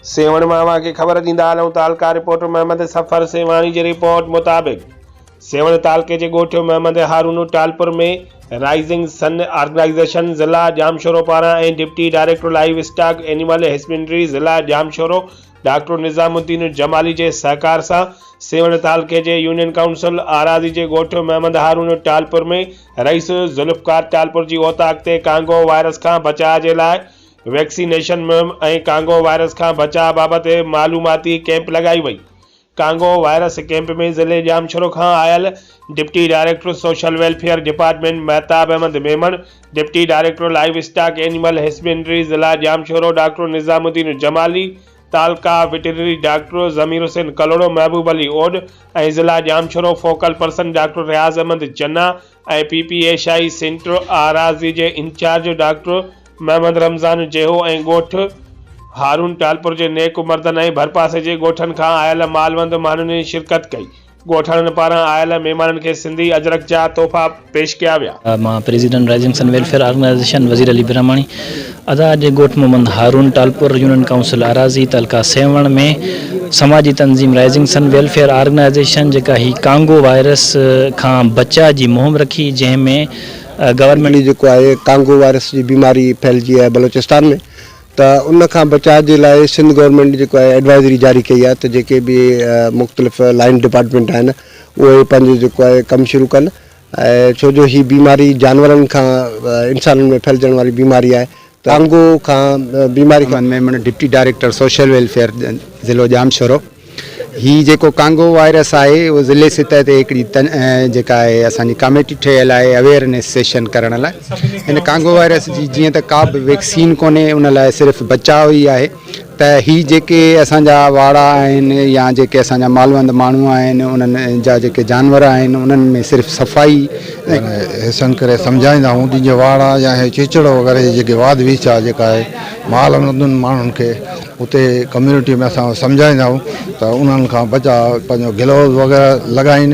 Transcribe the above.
سيوهڻ مان اوهان کي خبر ڏيندا هلون ته حلقا رپورٽر محمد سفر سيوهاڻي جي رپورٽ مطابق سيوهڻ تعلقي جي ڳوٺ Muhammad Haroon Talpur ۾ rising sun organization ضلع ڄامشورو پاران ۽ deputy director livestock animal husbandry ضلع ڄامشورو ڊاڪٽر نظام الدين جمالي جي سهڪار سان سيوهڻ تعلقي جي يونين ڪائونسل آراضي جي ڳوٺ محمد هارون ٽالپور ۾ رئيس ذوالفقار ٽالپور جي اوطاق تي ڪانگو وائرس کان بچاء جي لاء ويڪسينيشن مهم ۽ ڪانگو وائرس کان بچاء بابت معلوماتي ڪيمپ لڳائي وئي. ڪانگو وائرس ڪيمپ ۾ ضلعي ڄامشورو کان آيل deputy director social welfare department Mahtab Ahmed Memon, deputy director livestock animal husbandry ضلع ڄامشورو ڊاڪٽر نظام الدين جمالي، تعلقه وٽرنري ڊاڪٽر ضمير حسين ڪلهوڙو، محبوب علي اوڏ ۽ ضلع Jamshoro focal person doctor Riaz Ahmed Channa ۽ P P ايشائي centre Arazi جي انچارج ڊاڪٽر محمد رمضان جيهو ۽ ڳوٺ هارون ٽالپر جي نيڪ مردن ۽ ڀرپاسي جي ڳوٺن کان آيل مالوند ماڻهن شرڪت ڪئي. ڳوٺاڻن پاران آيل مهمانن کي سنڌي اجرڪ جا تحفا پيش ڪيا ويا. مان president Rising Sun Welfare Organization Wazir Ali Brahmani ادا اڄ ڳوٺ محمد هارون ٽالپر يونين ڪائونسل اراضي تعلقه سيوهڻ ۾ سماجي تنظيم رائزنگ سن ويلفيئر آرگنائيزيشن جيڪا هي ڪانگو وائرس کان بچاء جي مهم رکي جنهن ۾ گورنمينٽ جي جيڪو آهي ڪانگو وائرس جي بيماري ڦهلجي آهي بلوچستان ۾ ته ان کان بچاء جي لاء سنڌ گورنمينٽ جيڪو آهي ايڊوائزري جاري ڪئي آهي ته جيڪي به مختلف لائن ڊپارٽمينٽ آهن اهي پنهنجو جيڪو آهي ڪم شروع ڪن ۽ ڇو جو هي بيماري جانورن کان انسانن ۾ ڦهلجڻ واري بيماري آهي ڪانگو کان بيماري کان. Aman Memon deputy director social welfare ضلعو ڄامشورو هي جيڪو ڪانگو وائرس آهي اهو ضلعي سطح تي هڪڙي جيڪا آهي اسان جي ڪاميٽي ٺهيل آهي اويئرنيس سيشن ڪرڻ لاء هن ڪانگو وائرس جي جيئن ته ڪا به ويڪسين ڪونهي ان لاء صرف بچاء ئي آهي ته هي جيڪي اسان جا واڙا آهن يا جيڪي اسان جا مالوند ماڻهو آهن انهن جا جيڪي جانور آهن انهن ۾ صرف صفائي ۽ احسن ڪري سمجهائيندا آهيون جن جي واڙا يا هي چيچڙ وغيره جي جيڪي واڌ ويچ آهي جيڪا آهي مالوندن ماڻهن کي اتي ڪميونٽي ۾ اسان سمجهائيندا آهيون ته انهن کان بچاء پنهنجو گلوز وغيره لڳائين.